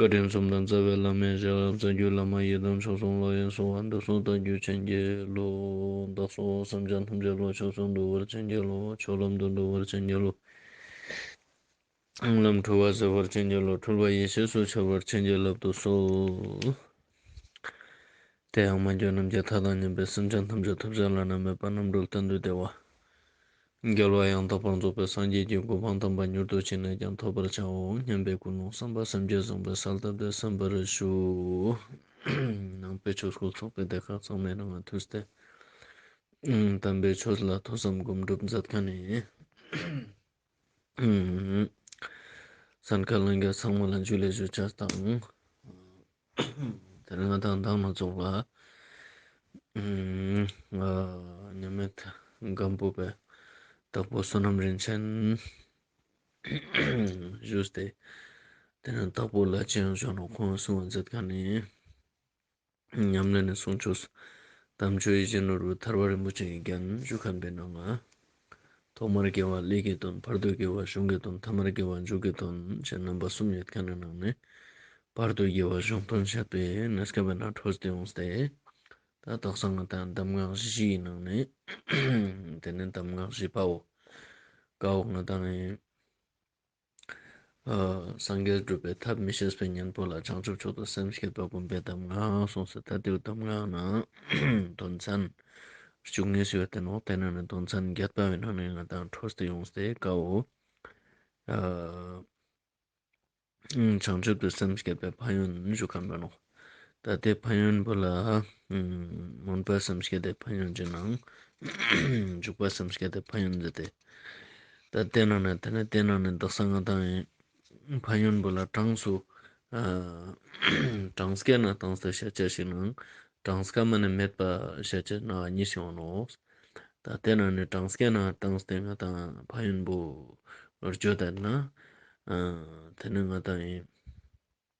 བཀའ་དྲིན་གསུམ་དང་རྩ་བའི་བླ་མའི་ཞལ་རབ་གསལ་རྒྱུད་བླ་མ་ཡི་དམ་མཆོག་གསུམ་བློ་ཡིས་བཟུང་བ་འདུལ་གསུང་རྟགས་བརྒྱུད་ཆེན་གྱི་ལོ། བདག་སོགས་བསམ་བྱ་ཐམས་ཅད་བློ་ཆོས་སུ་འདུ་བར་ཆེན་གྱི་ལོ། ཆོས་ལམ་དུ་འགྲོ་བར་ཆེན་གྱི་ལོ། སྔགས་ལམ་འཁྲུལ་བ་སེལ་བར་ཆེན་གྱི་ལོ། འཁྲུལ་པ་ཡེ་ཤེས་སུ་འཆར་བར་ཆེན་གྱི་ལབ་ཏུ་གསོལ། དེ་ཡང་མ་འགྱོད་རྣམས་ཀྱི་མཐའ་དང་ཉམས་པའི་སེམས་ཅན་ཐམས་ཅད་ཐུགས་བསྐྱེད་བླ་ན་མེད་པ་རྣམ་གྲོལ་བསྟན་དུ་བདེ་བ། འགལ་བ་ཡང་དག་པར་རྫོགས་པའི་སངས་རྒྱས་ཀྱི་གོ་འཕང་དམ་པ་མྱུར་དུ་ཅི་ནས་ཀྱང་ཐོབ་པར་བྱའོ་སྙམ་པའི་ཀུན་སློང་བསམ་པ་སེམས་བསྐྱེད་བཟང་པོའི་ས་བདག་བདག་བསམ་པར་ཞུ། ནང་པའི་ཆོས་སྐུ་ཚོགས་པའི་སྡེ་ཁག་ཚང་མས་རང་དབང་ཐུགས་གཏད། དམ་པའི་ཆོས་ལ་ཐོས་བསམ་སྒོམ་སྒྲུབ་མཛད་དཀའ་ནས། སར་མཁའ་ལང་རྒྱ་ཚང་མ་ལ་འཇུག་ལས་ཞུ་བཅར་དང། དེར་མངའ་ཐང་བདག་མ་རྫོགས་ལ། མཉམ་མེད་སྒམ་པོ་པའི་བདག་པོ་བསོད་ནམས་རིན་ཆེན་བཞུགས་ཏེ། དེ་ནས་བདག་པོ་ལ་ཅི་ཡང་བྱུང་རུང་ཁོང་གསུང་བ་མཛད་དགའ་ནི། ཉམས་ལེན་ནས་གསུང་ཆོས་སུ། དམ་ཆོས་ཡིད་བཞིན་ནོར་བུའི་ཐར་བ་རིན་པོ་ཆེ་ཡི་རྒྱན་བཞུགས་ཁང་པའི་ནང་ན། ཐོག་མར་དགེ་བ་ལས་ཀྱི་དོན་བར་དོའི་དགེ་བ་གཞུང་གི་དོན་ཐ་མར་དགེ་བ་མཇུག་གི་དོན་བཅས་རྣམ་པ་གསུམ་ཡོད་དཀའ་ན་ནང་ནས་བར་དོའི་དགེ་བ་གཞུང་དོན་བཤད་པས་ན་སྐལ་པ་ནག་འཕྲོ་སྟེ་འོང་སྟེ། ད་དག་གསང་སྔགས་དང་གདམས་ངག་བཞི་ཡི་ནང་ནས། དེ་ནི་གདམས་ངག་བཞི་པའོ། བཀའ་འོག་ན་དང། སངས་རྒྱས་སྒྲུབ་པའི་ཐབས་མི་ཤེས་པའི་གཉེན་པོ་ལ་བྱང་ཆུབ་མཆོག་ཏུ་སེམས་བསྐྱེད་པ་བསྒོམ་པའི་གདམས་ངག་གསུངས་སོ་ད་དེའུ་གདམས་ངག་ནི་དོན་ཚན་བཅུ་གཉིས་སུ་ཡོད་དེ་ནང་བསྟན་ནང་ནས་དོན་ཚན་བརྒྱད་ལྟ་བའི་ནང་ནས་ང་དང་འཕྲོ་སྟེ་ཡོངས་སུ་དཀའ་འོ། བྱང་ཆུབ་ཏུ་སེམས་བསྐྱེད་པའི་ཕ་ཡུལ་ནི་བཞུགས་ཁམས་དཔོན་ནོ། ད་ལྟའི་ཕ་ཡོན་པོ་ལ། མུན་པ་བསམ་ཤེས་དེ་ཕ་ཡོན་གྱི་ནང། འཇུག་པ་བསམ་ཤེས་དེ་ཕ་ཡོན་འདི་སྟེ། ད་ལྟའི་ནང་ནས་དེ་ནི་དེ་ནང་ནས་འདག་ས་ང་དང་ཡིན། ཕ་ཡོན་པོ་ལ་གྲངས་སུ། གྲངས་ཀའི་ནང་དང་སྟེ་བཤད་བྱ་ཞིག་ནང། གྲངས་ཀ་མ་ནི་མེད་པ་བཤད་བྱ་ན་གཉིས་ཤིག་འོང་ནོ། ད་ལྟའི་ནང་ནས་གྲངས་ཀའི་ནང་གྲངས་སྟེ་ང་དང་ཕ་ཡོན་པོ། རྒྱུ་དེ་ན། དེ་ནི་ང་དང་ཡིན།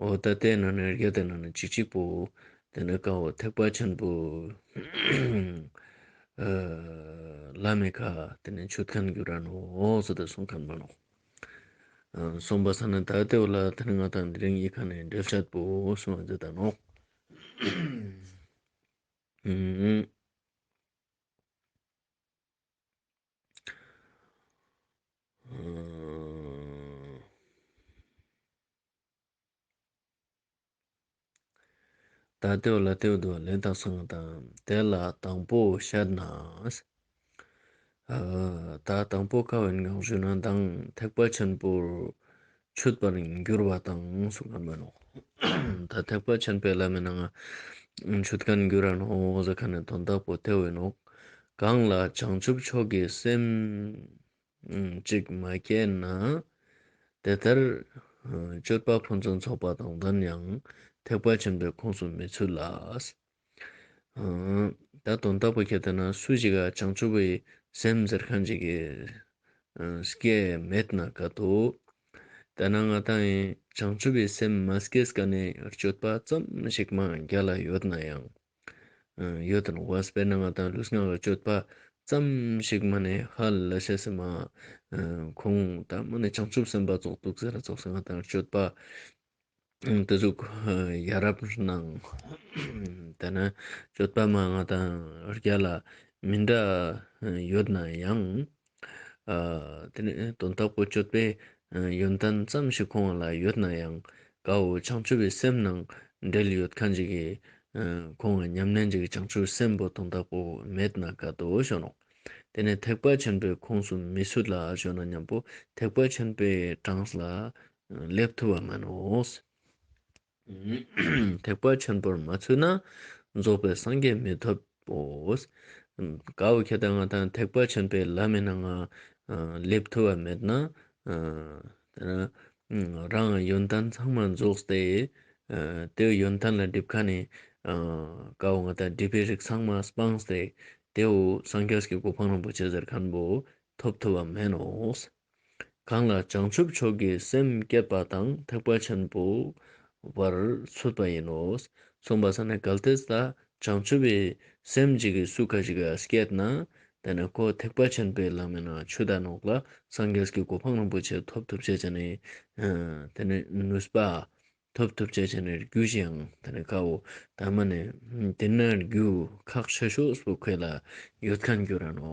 འོ་ད་ལྟའི་ནང་ནས་རྒྱ་དེ་ནང་ནས་གཅིག་གཅིག་པོ། དེ་ནས་ཀ་འོ་ཐེག་པ་ཆེན་པོ། བླ་མེད་ཁ་དེ་ནས་མཆོད་ཁན་གུ་ར་ནོ་ཟོ་དེ་སོང་ཁན་པ་ནོ། སོང་པ་ས་ནས་ད་ལྟའི་བ་ལ་དེ་ནས་ང་དང་དེ་རིང་ཡིག་ཁ་ནས་འབྲེལ་ཆད་པོ་སོང་བ་འཛེ་ད་ནོ། ད་ལྟའི་ལ་སྟོད་དུ་ལེན་ཐག་སོང་དང་དེ་ལ་དང་པོ་ཤར་ན། ད་དང་པོ་ཁ་བའི་ངང་བཞུགས་ན་མདངས་ཐེག་པ་ཆེན་པོར་ཆུད་པར་འགྱུར་བ་དང་གསུངས་པར་སྨོན་ནོ། ད་ཐེག་པ་ཆེན་པོའི་བླ་མེད་ན་ང་ཆུད་དཀའ་ནི་འགྱུར་ར་ནོ་ཟེར་ཁ་ནས་དོན་དག་པོ་དེ་འོན་ནོ། གང་ལ་བྱང་ཆུབ་མཆོག་གི་སེམས། ཅིག་མ་སྐྱེས་ན། དེ་ལྟར་སྤྱོད་པ་ཕུན་སུམ་ཚོགས་པ་དང་ལྡན་ཡང་ཐེག་པ་ཆེན་པོའི་ཁོངས་སུ་མི་ཚུད་ལ། ད་དུང་བདག་པོ་ཁྱེད་ལྟ་ན་སུ་ཞིག་ག་བྱང་ཆུབ་པའི་སེམས་འཛེར་གང་ཅིག་གིས་སྐྱེས་མེད་ན་དགའ་སྟོ། དེས་ན་ང་དང་བྱང་ཆུབ་པའི་སེམས་མ་སྐྱེས་ཀ་ནས་སྤྱོད་པ་ཙམ་ཞིག་མ་རྒྱ་ལ་ཡོད་ན་ཡང། ཡོད་དོ་ནུབ་བ་སྤེལ་ན་ང་དང་ལུས་ངག་ལ་སྤྱོད་པ་ཙམ་ཞིག་མ་ནས་ཧ་ལ་བྱས་སེ་མ། ཁོང་དང་མ་ནས་བྱང་ཆུབ་སེམས་དཔའ་རྫོགས་འདུག་ཟེར་ལ་རྫོགས་སངས་དང་སྤྱོད་པ། དུ་ཟུག་ཡ་རབ་གནང། དེ་ན་སྤྱོད་པ་མ་ང་དང་རྒྱ་ལ་མི་འདྲ་ཡོད་ན་ཡང། དེ་ནས་དོན་དག་པོ་སྤྱོད་པའི་ཡོན་ཏན་ཙམ་ཞིག་ཁོང་བ་ལ་ཡོད་ན་ཡང་དགའ་འོ་བྱང་ཆུབ་པའི་སེམས་ནང་འབྲེལ་ཡོད་ཁ་འཇིག་གི། ཁོང་བ་ཉམས་ལེན་གྱི་བྱང་ཆུབ་སེམས་པོ་དོན་དག་པོ་མེད་ན་དགའ་དོ་ཞོ་ནོ། དེ་ནས་ཐེག་པ་ཆེན་པོའི་ཁོངས་སུ་མི་ཚུད་ལ་ཞོ་ན་སྙམ་པོ་ཐེག་པ་ཆེན་པོའི་གྲངས་ལ་སླེབ་ཐུབ་བ་མིན་ནོ། ཐེག་པ་ཆེན་པོར་མ་ཚུད་ན་རྫོགས་པའི་སངས་རྒྱས་མི་འཐོབ་བོ། གའུ་ཁྱེད་ལྟ་ང་དང་ཐེག་པ་ཆེན་པོའི་ལམ་མེད་ན་ང་སླེབས་ཐུབ་བ་མེད་ན། རང་ཡོན་ཏན་ཚང་མ་རྫོགས་ཏེ། དེའུ་ཡོན་ཏན་ལ་སྒྲིབ་ཁ་ནས་གའུ་ང་དང་སྒྲིབ་པའི་རིགས་ཚང་མ་སྤངས་ཏེ། དེའུ་སངས་རྒྱས་ཀྱི་གོ་འཕང་རིན་པོ་ཆེ་ཟེར་མཁན་པོ་འཐོབ་ཐུབ་བ་མིན་ནོ། གང་ལ་བྱང་ཆུབ་མཆོག་གི་སེམས་བསྐྱེད་པ་དང་ཐེག་པ་ཆེན་པོ་བར་ཚུད་པ་ཡིན་ནོ། མཚུངས་པ་ས་ནི་གལ་ཏེ་ད་བྱང་ཆུབ་པའི་སེམས་ཅིག་གིས་སུ་ཁ་ཅིག་བསྐྱེད་ན་དེ་ནི་ཁོ་ཐེག་པ་ཆེན་པོའི་ལམ་མིན་ན་ཆུ་ཟླ་ནོག་ལ་སངས་རྒྱས་ཀྱི་གོ་འཕང་རིན་པོ་ཆེ་ཐོབ་ཐུབ་བྱེད་ཅེ་ནི། དེ་ནི་ནུས་པ། ཐོབ་ཐུབ་བྱེད་ཅེ་ནི་རྒྱུ་ཞིང་དེ་ནི་དཀའ་འོ། དངས་མ་ནི། དེས་ན་རྒྱུ་ཁག་ཆེ་ཤོས་སུ་ཁོད་ལ་ཡོད་ཁ་འགྱུར་ར་ནོ།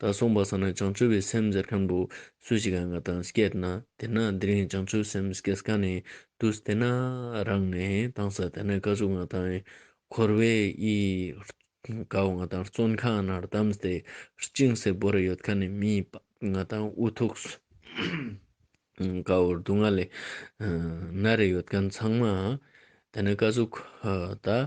ད་གསུངས་པ་ཟ་ན་བྱང་ཆུབ་པའི་སེམས་ཟེར་མཁན་པོ་སུ་ཞིག་གང་ག་དང་སྐད་ན་དེ་ན་དེ་རིང་བྱང་ཆུབ་སེམས་སྐད་ག་ནས་དུས་དེ་ན་རང་ནས་དང་ས་དེ་ན་དཀའ་བཅུ་ང་དང་འཁོར་བའི་ཡི་ག་བ་ང་དང་བརྩོན་ཁང་ན་གདམས་ཏེ་བཅིངས་སེ་བོར་ཡོད་ག་ནས་མི་ང་དང་འུ་ཐུག་སུ་ག་བོར་སྡུག་བསྔལ་ལས་ན་རེ་ཡོད་ག་ཚང་མ་དེ་ན་དཀའ་བཅུ་ད།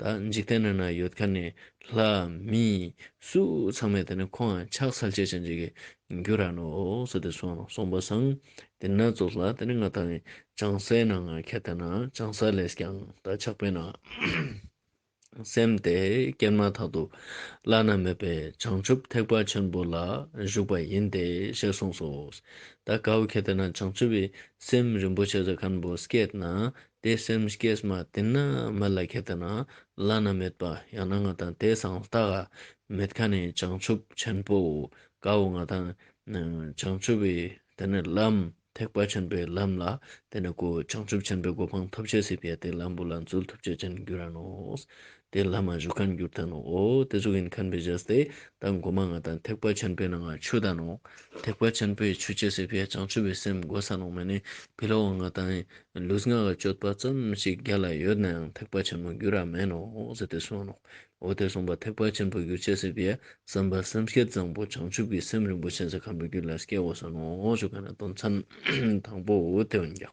ད་འཇིག་རྟེན་ན་ན་ཡོད་ཁ་ནས་ལྷ། མི། སུ་ཚང་མས་དེ་ནས་ཁོང་ཡང་ཕྱག་འཚལ་བྱེད་ཅིང་འཇིག་གི་རྒྱུ་ར་ནོ་ཟེར་ཏེ་གསུང་ལ་གསུངས་པ་སང་དེ་ན་རྫོགས་ལ་དེ་ནས་ང་ད་ནི་བྱང་སའི་ན་ང་ཁད་དེ་ན་བྱང་ས་ལས་ཀྱང་ད་ཆགས་པས་ན། སེམས་དེ་སྐྱེར་མ་ཐག་ཏུ་བླ་ན་མེད་པའི་བྱང་ཆུབ་ཐེག་པ་ཆེན་པོ་ལ་བཞུགས་པ་ཡིན་ཏེ་ཞེས་གསུངས་སོ། ད་གའུ་ཁད་དེ་ན་བྱང་ཆུབ་བའི་སེམས་རིན་པོ་ཆེ་ཟ་ཁན་པོ་སྐད་ན་དེ་སེམས་སྐྱེས་མ་དེ་ནི་མི་ལ་ཁད་དུ་ན་བླ་ན་མེད་པ་ཡང་ན་ང་དང་དེ་སང་རྟག་ག་མེད་ཁ་ནས་བྱང་ཆུབ་ཆེན་པོ་དགའ་བོ་ང་དང་བྱང་ཆུབ་བའི་དེ་ནི་ལམ་ཐེག་པ་ཆེན་པོའི་ལམ་ལ་དེ་ནི་གོ་བྱང་ཆུབ་ཆེན་པོའི་གོ་འཕང་ཐོབ་བྱེད་སྲིད་པའི་དེ་ལམ་བུ་ལ་འཛུལ་ཐུབ་བྱེད་ཅན་འགྱུར་ར་ནོ། དེ་ལྷ་མ་གཞུག་ཁ་འགྱུར་དང་ནོ། དེ་གཟུགས་ཡིན་ཁ་འབེ་བཞག་སྟེ། དང་སྒོ་མ་ལྔ་དང་ཐེག་པ་ཆེན་པོའི་ནང་ང་ཆོས་དང་ནོ། ཐེག་པ་ཆེན་པོའི་ཆོས་སྐྱེ་སྲིད་པས་བྱང་ཆུབ་པའི་སེམས་དགོས་ས་ནོ་མེ་ནི་བི་ལོ་བ་ལྔ་དང། ལུས་ལྔ་ག་ཅོད་པ་ཙམ་ཞིག་རྒྱ་ལ་ཡོད་ནའང་ཐེག་པ་ཆེན་པོ་འགྱུར་ར་མེད་ནོ་ཟེར་ཏེ་གསུངས་ནོ། འོ་དེ་གསུངས་པ་ཐེག་པ་ཆེན་པོ་འགྱུར་སྐྱེ་སྲིད་པས་བསམ་པ་སེམས་བསྐྱེད་བཟང་པོ་བྱང་ཆུབ་ཀྱི་སེམས་རིན་པོ་ཆེན་ས་ག་འགྲོ་རྒྱུ་ལ་སྐྱེ་དགོས་ས་ནོ་ཞུ་ག་ན་དོན་ཚན་དང་པོ་དེ་འོན་ཀྱང།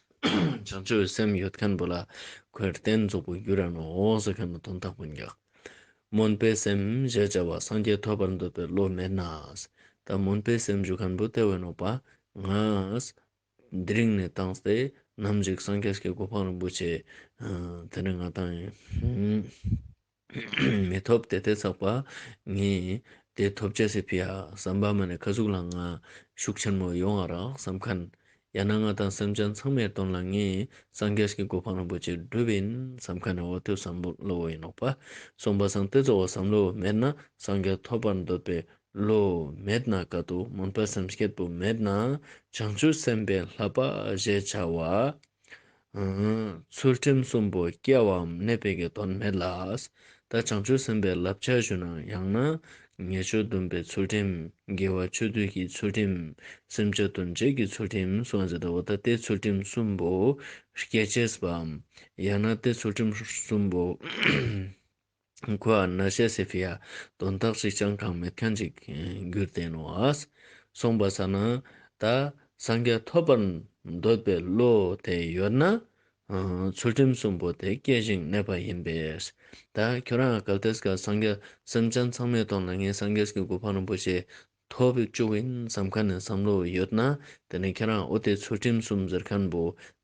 བྱང་ཆུབ་སེམས་ཡོད་མཁན་པོ་ལ་གོས་བརྟན་རྫོགས་པའི་རྒྱུ་རང་ནོངས་འོངས་ཟེར་མཁན་པོ་དོན་དག་པོ་འགག། སྨོན་པའི་སེམས་ཞེས་བྱ་བ་སངས་རྒྱས་ཐོབ་པར་འདོད་པའི་བློ་མེད་ན། ད་སྨོན་པའི་སེམས་ཞུ་མཁན་པོ་ལྟེ་བའི་ནོངས་པ་ང། འདི་རིང་ནས་བཏང་སྟེ་ནམ་ཞིག་སངས་རྒྱས་ཀྱི་གོ་འཕང་རིན་པོ་ཆེ། དེ་ནི་ང་བཏང་ཡིན། མི་ཐོབ་དེ་ལྟའི་ཚགས་པར་ངས་དེ་ཐོབ་བྱ་སེ་ཕི་ཡ་ཟམ་པ་མ་ནས་ཁ་ཟུག་ལ་ང་ཤུགས་ཆེན་མོ་ཡོང་ཨ་རག་ཟམ་ཁ་ཡ་ན་ང་དང་སེམས་ཅན་ཚང་མའི་དོན་ལ་ངས་སངས་རྒྱས་ཀྱི་གོ་འཕང་རིན་པོ་ཆེ་བསྒྲུབ་བིན་ཟམ་ཁ་ནས་འོ་ཐོད་ཟམ་བློ་ཡིན་ནོག་པ་གསུངས་པ་སང་སྟེ་གཙོ་བོ་ཟམ་བློ་མེད་ན་སངས་རྒྱས་ཐོབ་པར་འདོད་པའི་བློ་མེད་ན་དཀའ་སྡུག་མུན་པ་སེམས་སྐྱིད་པོ་མེད་ན་བྱང་ཆུབ་སེམས་པའི་ལྷ་པ་ཞེས་བྱ་བ། ཚུལ་ཁྲིམས་གསུམ་པོ་སྐྱེ་བའམ་གནས་པའི་དགེ་དོན་མེད་ལ། ད་བྱང་ཆུབ་སེམས་དཔའི་བསླབ་བྱ་ཞུ་ན་ཡང་ན། ཉེས་སྤྱོད་འདོན་པའི་ཚུལ་ཁྲིམས་དགེ་བ་སྤྱོད་བསྡུས་ཀྱི་ཚུལ་ཁྲིམས་སེམས་ཅན་དོན་བྱེད་ཀྱི་ཚུལ་ཁྲིམས་སུ་འཛིན་ཏོ། ད་སྟེ་ཚུལ་ཁྲིམས་གསུམ་པོ་སྐྱེ་བྱེད་པའམ། ཡང་ན་སྟེ་ཚུལ་ཁྲིམས་གསུམ་པོ། ཁོ་ཨ་ན་ཤ་སེ་ཕི་ཡ་དོན་དག་ཅིག་ཀྱང་གང་མེད་མཁན་ཅིག་རྒྱུར་བསྟན་ནོ། གསུངས་པ་ས་ན་ད་སངས་རྒྱས་ཐོབ་པར་འདོད་པའི་བློ་དེ་ཡོད་ན། ཚུལ་ཁྲིམས་གསུམ་པོ་དེ་སྐྱེ་ཞིང་གནས་པ་ཡིན་པས། ད་ཁྱོད་རང་གལ་ཏེ་སངས་རྒྱས་སེམས་ཅན་ཚང་མའི་དོན་ལ་ངས་སངས་རྒྱས་ཀྱི་གོ་འཕང་རིན་པོ་ཆེ་ཐོབ་བཅུག་བིན་བསམ་ཁ་ནས་བསམ་བློ་ཡོད་ན་དེ་ནས་ཁྱེད་རང་ཨོ་དེ་ཚུལ་ཁྲིམས་གསུམ་ཟེར་ཁན་པོ་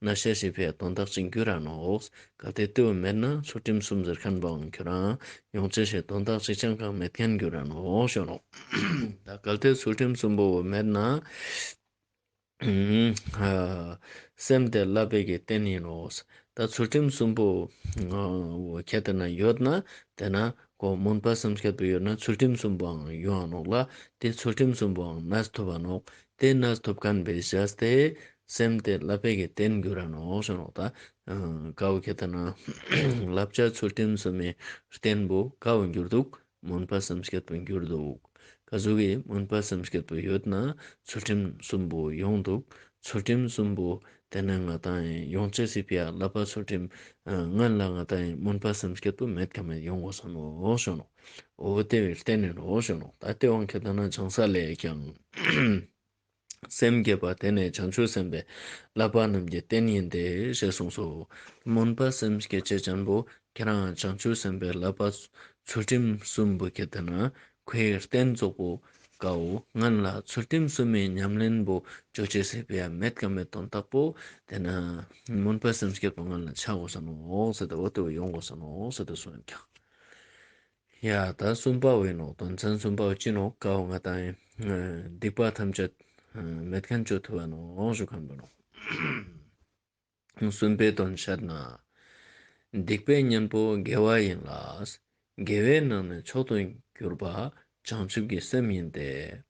ན་ཤ་ཞིག་བས་དོན་དག་ཅིག་འགྱུར་ར་ནོགས་ག་དེ་ལྟོས་བུ་མེད་ན་ཚུལ་ཁྲིམས་གསུམ་ཟེར་ཁན་པའང་ཁྱོད་རང་ཡོང་ཅི་ཞིག་དོན་དག་ཅིག་ཅང་གང་མེད་ཁན་འགྱུར་ར་ནོགས་ཤོག་ལོ། ད་ག་དེ་ཚུལ་ཁྲིམས་གསུམ་པོ་བུ་མེད་ན། སེམས་དེ་བསླབ་པའི་རྟེན་ཡིན་ནོ། ད་ཚུལ་ཁྲིམས་གསུམ་པོ་ཁྱེད་དེ་ན་ཡོད་ན། དེ་ན་གོ་མུན་པ་སེམས་ཁྱད་དུ་ཡོད་ན་ཚུལ་ཁྲིམས་གསུམ་པོའང་ཡོད་ཨང་ནོག་ལ། དེ་ཚུལ་ཁྲིམས་གསུམ་པོའང་ནས་ཐུབ་ཨ་ནོག། དེ་ནས་ཐུབ་ཁན་པའི་ཞེས་དེ། སེམས་དེ་བསླབ་པའི་རྟེན་འགྱུར་ཨ་ནོག་ཞེས་ནོག་ད། དགའ་བོ་ཁྱེད་དེ་ན། བསླབ་བྱ་ཚུལ་ཁྲིམས་གསུམ་མའི་རྟེན་པོ་དགའ་བོ་འགྱུར་འདུག་མུན་པ་བསམ་བསྐྱེད་དུ་འགྱུར་འདུག་ཀ་གཟུགས་ཀྱི་མུན་པ་བསམ་བསྐྱེད་དུ་ཡོད་ན་ཚུལ་ཁྲིམས་གསུམ་པོ་ཡོངས་འདུག་ཚུལ་ཁྲིམས་གསུམ་པོ་དེ་ནི་ང་དང་ཡོངས་བྱེད་སྲིད་པའི་བསླབ་པ་ཚུལ་ཁྲིམས་ལྔ་ལ་ང་དང་མུན་པ་བསམ་བསྐྱེད་དུ་མེད་ཀྱང་མེད་ཡོང་གོ་བསམ་མོ་ཞོ་ནོ་འོ་དེ་བས་གཏན་ནས་ནོ་ཞོ་ནོ་ད་དེ་དབང་གི་ལྟར་ན་བྱང་ས་ལས་ཀྱང། སེམས་བསྐྱེད་པ་དེ་ནི་བྱང་ཆུབ་སེམས་དཔའི་བསླབ་པ་རྣམས་ཀྱི་རྟེན་ཡིན་ཏེ་ཞེས་གསུངས་སོ། སྨོན་པ་སེམས་བསྐྱེད་བྱེད་ཆེན་པོ་ཁྱེད་རང་བྱང་ཆུབ་སེམས་དཔའི་བསླབ་པ་ཚུལ་ཁྲིམས་གསུམ་བུ་ཁྱེད་དེ་ན་ཁོའི་རྟེན་རྫོགས་པོ་ཀའོ། ང་ལ་ཚུལ་ཁྲིམས་གསུམ་མའི་ཉམས་ལེན་བུ་བཅོལ་བྱེད་སྲིད་པའི་མེད་དཀའ་མེད་དོན་རྟག་པོ་དེ་ན་སྨོན་པ་སེམས་བསྐྱེད་པ་ང་ལ་འཆའོ་བསམ་མོ། ཡ། ད་གསུམ་པ་འི་ནོག་དོན་ཚན་གསུམ་པ་འི་སྤྱི་ནོག་ཀའོ་ང་དང་འི་སྡིག་པ་ཐམས་ཅད་མེད་མཁན་གཅོད་ཐུབ་བ་ནོག་ཞུ་ཁམས་པ་ནོག། གསུམ་པའི་དོན་ཤར་ན། སྡིག་པའི་གཉེན་པོ་དགེ་བ་ཡིན་ལ། དགེ་བའི་ནང་ནས་མཆོག་ཏུ་གྱུར་པ་བྱང་ཆུབ་ཀྱི་སེམས་ཡིན་ཏེ།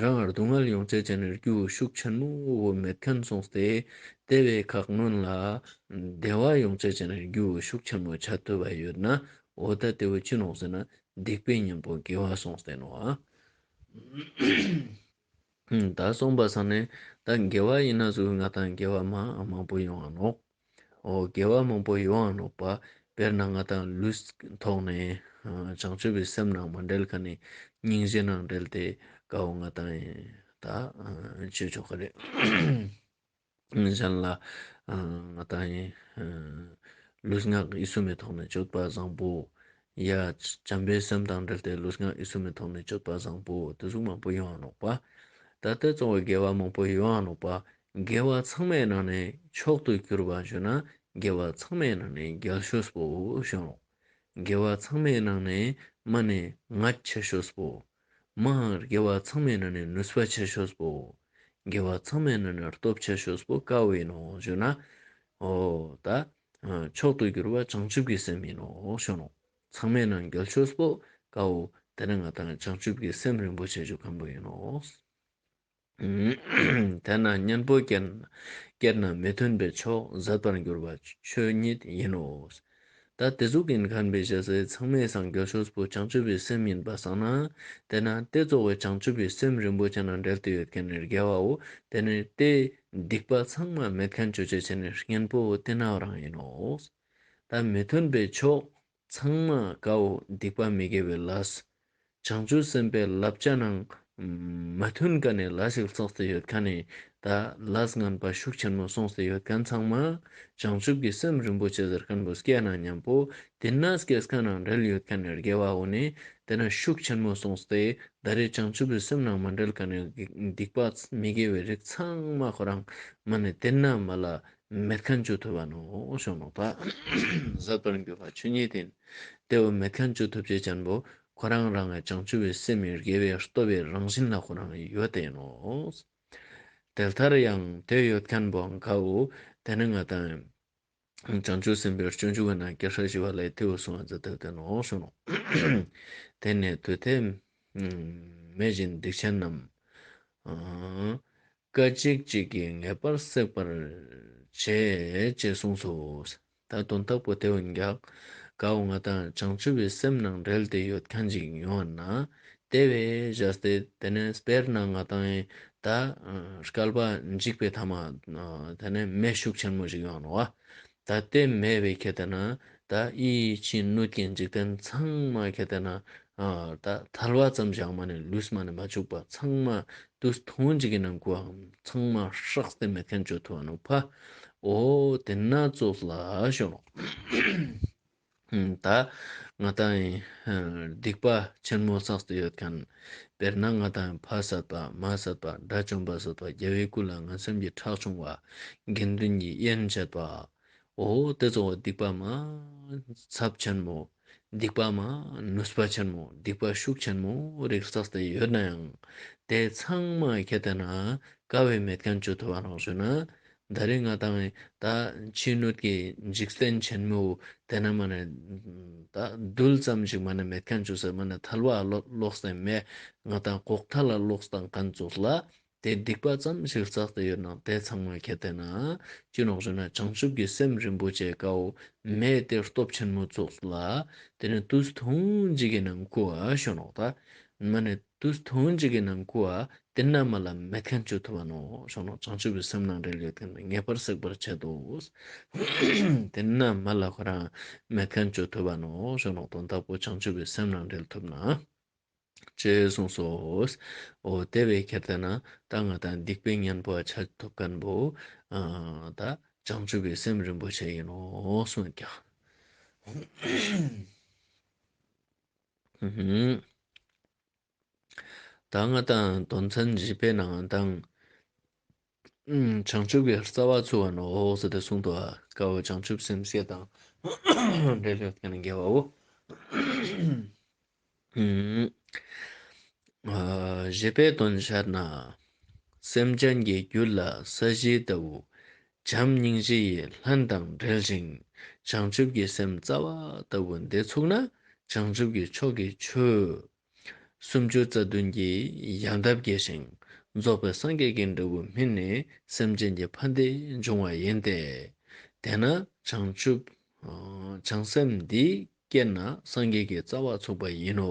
རང་ངར་སྡུག་བསྔལ་ཡོངས་བསལ་བྱས་ནས་རྒྱུ་ཤུགས་ཆེན་མོ་བོ་མེད་ཐོན་སོང་སྟེ། དེ་བས་ཁག་སྔོན་ལ་བདེ་བ་ཡོངས་བསལ་བྱས་ནས་རྒྱུ་ཤུགས་ཆེན་མོ་བྱ་འཐུས་པ་ཡོད་ན་འོ་ད་དེ་བས་ཅི་ནོངས་ཟེར་ན་སྡིག་པའི་གཉེན་པོ་དགེ་བ་སོང་བསྟན་ནོ། ད་སོང་པ་སང་ནས་ད་དགེ་བ་ཡིན་ན་ཟུག་ང་དང་དགེ་བ་མང་པོ་ཡོང་བ་ནོག། འོ་དགེ་བ་མང་པོ་ཡོང་ཨ་ནོག་པ། དཔེར་ན་ང་དང་ལུས་ཐོག་ནས། བྱང་ཆུབ་པའི་སེམས་ནང་མ་འབྲེལ་ཁ་ནས་སྙིང་རྗེ་ནང་འབྲེལ་ཏེ་དགའ་བོ་ང་དང་ཡིན། ད་བྱོས་ཆོག་གི་རེད། གཞན་ལ། ང་དང་ཡིན། ལུས་ངག་ཡིད་གསུམ་མེ་ཐོག་ནས་སྤྱོད་པ་བཟང་པོ། ཡ། བྱམས་པའི་སེམས་དང་འབྲེལ་ཏེ་ལུས་ངག་ཡིད་གསུམ་མི་མཐོང་མི་ཆོད་པ་བཟང་པོ་འོ་དོད་གཟུགས་མང་པོ་ཡོངས་བརློག་པ། ད་ལྟའི་བཙོང་བའི་དགེ་བ་མང་པོ་ཡོངས་བརློག་པ། དགེ་བ་ཚང་མའི་ནང་ནས་མཆོག་ཏུ་གྱུར་པ་བརྗོད་ན་དགེ་བ་ཚང་མའི་ནང་ནས་རྒྱལ་ཤོས་སྤོ་བོ་བྱོན་ལོ། དགེ་བ་ཚང་མའི་ནང་ནས་མ་ནི་ང་ཁྱེད་ཤོས་སྤོ། མའང་དགེ་བ་ཚང་མའི་ནང་ནས་ནུས་པ་ཁྱེད་ཤོས་སྤོ། དགེ་བ་ཚང་མའི་ནང་ནས་སྟོབས་ཁྱེད་ཤོས་སྤོ་བཀའ་བའི་ནང་བརྗོད་ན། ཧོ། ད། མཆོག་ཏུ་གྱུར་པ་བྱང་ཆུབ་ཀྱི་སེམས་ཡིན་ནོ་ཞེས་ནོ། ཚང་མས་ནང་འགལ་ཆོས་སོགས་དཀའ་འོ། དེ་ནི་ང་དང་བྱང་ཆུབ་ཀྱི་སེམས་རིན་པོ་ཆེ་ཆོས་ཁམས་པོ་ཡིན་ནོ། དེས་ན་གཉེན་པོ་སྐྱེས་ན་མི་མཐུན་པའི་ཕྱོགས་ཟད་པར་འགྱུར་བ་ཆོས་ཉིད་ཡིན་ནོ། ད་དེ་གཟུགས་ཀྱི་མཁར་འབེབས་བྱེད་སའི་ཚང་མས་སངས་རྒྱས་ཆོས་སྤོ་བྱང་ཆུབ་པའི་སེམས་ཡིན་པར་བསམ་ན། དེས་ན་དེ་གཙོ་བོའི་བྱང་ཆུབ་པའི་སེམས་རིན་པོ་ཆེ་ནང་འགྲེལ་དུ་ཡོད་མཁན་ནི་རྒྱལ་བའོ། དེ་ནི་ཏེ། སྡིག་པ་ཚང་མ་མེད་མཁན་བརྗོད་བྱའི་བྱེད་ནུས་གཉེན་པོ་སྟེ་ནའོ་རང་ཡིན་ནོ། ད་མི་མཐུན་པའི་ཕྱོགས་ཚང་མ་ཀའོ་སྡིག་པ་མི་དགེ་བའི་ལས་སོ། བྱང་ཆུབ་སེམས་དཔའི་བསླབ་བྱ་རྣམས་མི་མཐུན་ཀ་ནས་ལ་ཞིག་ཚགས་སེ་ཡོད་ཀ་ནས་ད་ལ་སྔན་པ་ཤུགས་ཆེན་མོ་སོང་སེ་ཡོད་མཁན་ཚང་མ་བྱང་ཆུབ་ཀྱི་སེམས་རིན་པོ་ཆེ་ཟེར་མཁན་པོ་སྐྱེས་ན་མཉམ་པོ་དེ་ན་སྐྱེས་སྐར་ནང་འབྲེལ་ཡོད་མཁན་རྒྱལ་བ་འོ་ནི་དེ་ན་ཤུགས་ཆེན་མོ་སོང་སྟེ་ད་རེས་བྱང་ཆུབ་པའི་སེམས་ནང་མ་འབྲེལ་ག་ནས་སྡིག་པ་མི་དགེ་བའི་རིགས་ཚང་མ་ཁོ་རང་མ་ནི་དེ་ན་མ་ལ་མེད་ཁ་མཆུ་ཐུབ་བ་ནོ་ཞོ་ནོག་པ་ཟབ་པར་འགྱུར་བ་ཆོས་ཉིད་དེ་ནི་དེ་འོ་མེད་ཁ་མཆུ་ཐུབ་བྱེད་ཅན་པོ་ཁོ་རང་རང་གི་བྱང་ཆུབ་པའི་སེམས་དགེ་བའི་རྟོལ་བའི་རང་བཞིན་ལ་ཁོ་རང་ཡོད་དེ་ཡིན་ནོ། དེ་ལྟར་ཡང་དེ་ཡོད་མཁན་པོ་འགའ་འོ་དེ་ནི་ང་དང། བྱང་ཆུབ་སེམས་དཔའི་སྤྱོད་འཇུག་གི་ནང་གི་ཧྲཱི་ཞེས་པ་ལས་མཐེ་བོ་གསུང་བ་འཛིན་ཐབས་དེ་ནོངས་བྱུང། དེ་ནས་དུས་མཐའི་མེ་བཞིན་སྡིག་ཆེན་རྣམས། སྐད་ཅིག་གཅིག་གིས་ངེས་པར་བསྲེག་པར་བྱེད་ཅེས་གསུངས་སོ། ད་དུང་དྭགས་པོ་དེ་བས་འགགས། འགགས་བ་ང་དང་བྱང་ཆུབ་པའི་སེམས་ནང་འབྲེལ་དེ་ཡོད་གང་ཅིག་ཡོད་ན། དེ་བས་གཞར་ཏེ་དེ་ནས་དཔེར་ན་ང་དང་ཡི་དྭགས་སྐལ་པ་འཇིག་པའི་ཐ་མ་དེ་ནས་མེ་ཤུགས་ཆེན་མོ་ཞིག་ཡོང་རུང་བ། ད་ལྟའི་མེ་བས་ཁྱེད་དེ་ན་ད་ཨི་ཕྱིན་སྣོད་ཀྱི་འཇིག་རྟེན་ཚང་མ་ཁྱེད་དེ་ན་ད་ཐལ་བ་ཙམ་བཞག་མ་ནས་ལུས་མ་ནས་མ་བཅུག་པ་ཚང་མ་དུས་ཐུང་ཅིག་གི་ནང་གུ་བའམ་ཚང་མ་ཧྲག་སྟེ་མེ་ཐན་སྤྱོད་ཐུ་བ་ནུ་ཕ་འོ་དེ་ན་ཙོག་ལ་ཤོག། ད་ང་དང་སྡིག་པ་ཆེན་མོ་བསགས་སུ་ཡོད་མཁན། དཔེར་ན་ང་དང་ཕ་བསད་པ་མ་བསད་པ་དགྲ་བཅོམ་པ་བསད་པ་རྒྱལ་བའི་སྐུ་ལ་ང་སེམས་ཀྱི་ཁྲག་ཕྱུང་བ། དགེ་འདུན་གྱི་དབྱེན་བྱེད་པ། འོ་དེ་ཚོ་སྡིག་པ་མ། ཚབས་ཆེན་མོ། སྡིག་པ་མ། ནུས་པ་ཆེན་མོ་སྡིག་པ་ཤུགས་ཆེན་མོ་རིགས་བསགས་སྟེ་ཡོད་ན་ཡང། དེ་ཚང་མ་ཁྱེད་ལྟ་ན་དཀའ་བའི་མེད་མཁན་བཅོས་ཐུབ་པ་རང་བྱོས་ན། ཟླ་རེ་ང་དང་བའི་ད། ཕྱི་སྣོད་ཀྱི་འཇིག་རྟེན་ཆེན་མོའོ། དེ་ན་མ་ནི། ད་རྡུལ་ཙམ་ཞིག་མ་ནི་མེད་མཁན་ཆུ་སེར་མ་ནི་ཐལ་བ་ལོག་སྟེ་མེད། ང་དང་གོག་མཐའ་ལ་ལོག་སྟངས་མཁན་བཙུགས་ལ། དེ་སྡིག་པ་ཙམ་ཞིག་བཙག་སྟེ་ཡོད་ན་དེ་ཚང་མ་གལ་ཏེ་ན། ཅི་ནོག་བྱུང་ན་བྱང་ཆུབ་ཀྱི་སེམས་རིན་པོ་ཆེ་ཀའོ། མས་དེ་སྟོབས་ཆེན་མོ་བཙུགས་ལ། དེ་ནི་དུས་ཐུང་ཅིག་གི་ནང་ཁུ་བ་ཤོ་ནོག་ད། མ་ནི། དུ་སྟོང་གཅིག་གི་ནང་སྐུ་བ་དེ་རྣལ་མ་ལ་མེད་མཁན་བཅོས་ཐུབ་པ་ནོ་ཞོག་ནོ་བྱང་ཆུབ་པའི་སེམས་ནང་རེ་ལུས་དེ་ངེས་པར་སྲེག་པར་བྱེད་དོ། དེ་རྣལ་མ་ལ་ཁོ་རང་མེད་མཁན་བཅོས་ཐུབ་པ་ནོ་ཞོག་ནོ་དོན་དག་པོ་བྱང་ཆུབ་པའི་སེམས་ནང་འབྲེལ་ཐུབ་ན། ཅེས་གསུངས་སོ། འོ་དེ་བས་ཁྱེར་ལྟ་ན་ད་ང་དང་སྡིག་པའི་གཉེན་པོ་ཆ་ཐོབ་མཁན་པོ་ད་བྱང་ཆུབ་པའི་སེམས་རིན་པོ་ཆེ་ཡིན་ནོ་གསུངས་ཀྱང། ད་སྔ་དང་དོན་མཚན་བཞི་པའི་ནང་དང། བྱང་ཆུབ་ཀྱི་རྩ་བ་ཚུལ་བ་ནོ་ཧོ་ཟེར་ཏེ་གསུངས་ཏོ། དཀར་བོ་བྱང་ཆུབ་སེམས་བསྐྱེད་དང། འབྲས་བུ་མཁྱེན་ནི་དགེ་བའོ། བཞི་པའི་དོན་ཤར་ན། སེམས་ཅན་གྱི་རྒྱུད་ལ་ས་གཞི་ལྟ་བུ། བྱམས་སྙིང་རྗེ་ཡིས་ལྷན་དང་སྦྲེལ་ཞིང་བྱང་ཆུབ་ཀྱི་སེམས་རྩ་བ་ལྟ་བུ་འདི་ཚུགས་ན་བྱང་ཆུབ་ཀྱི་ཕྱོགས་ཀྱི་ཆོས་སུམ་ཅུ་རྩ་བདུན་གྱིས་ཡང་དག་དགྱེས་ཤིང་རྫོགས་པའི་སངས་རྒྱས་ཀྱི་འབྲས་བུ་སྨིན་ནས་སེམས་ཅན་གྱི་ཕ་འདི་འབྱུང་བ་ཡིན་ཏེ། དེས་ན་བྱང་ཆུབ་བྱང་སེམས་འདིས། སྐྱེད་ན་སངས་རྒྱས་ཀྱི་རྩ་བ་ཚུགས་པ་ཡིན་ནོ།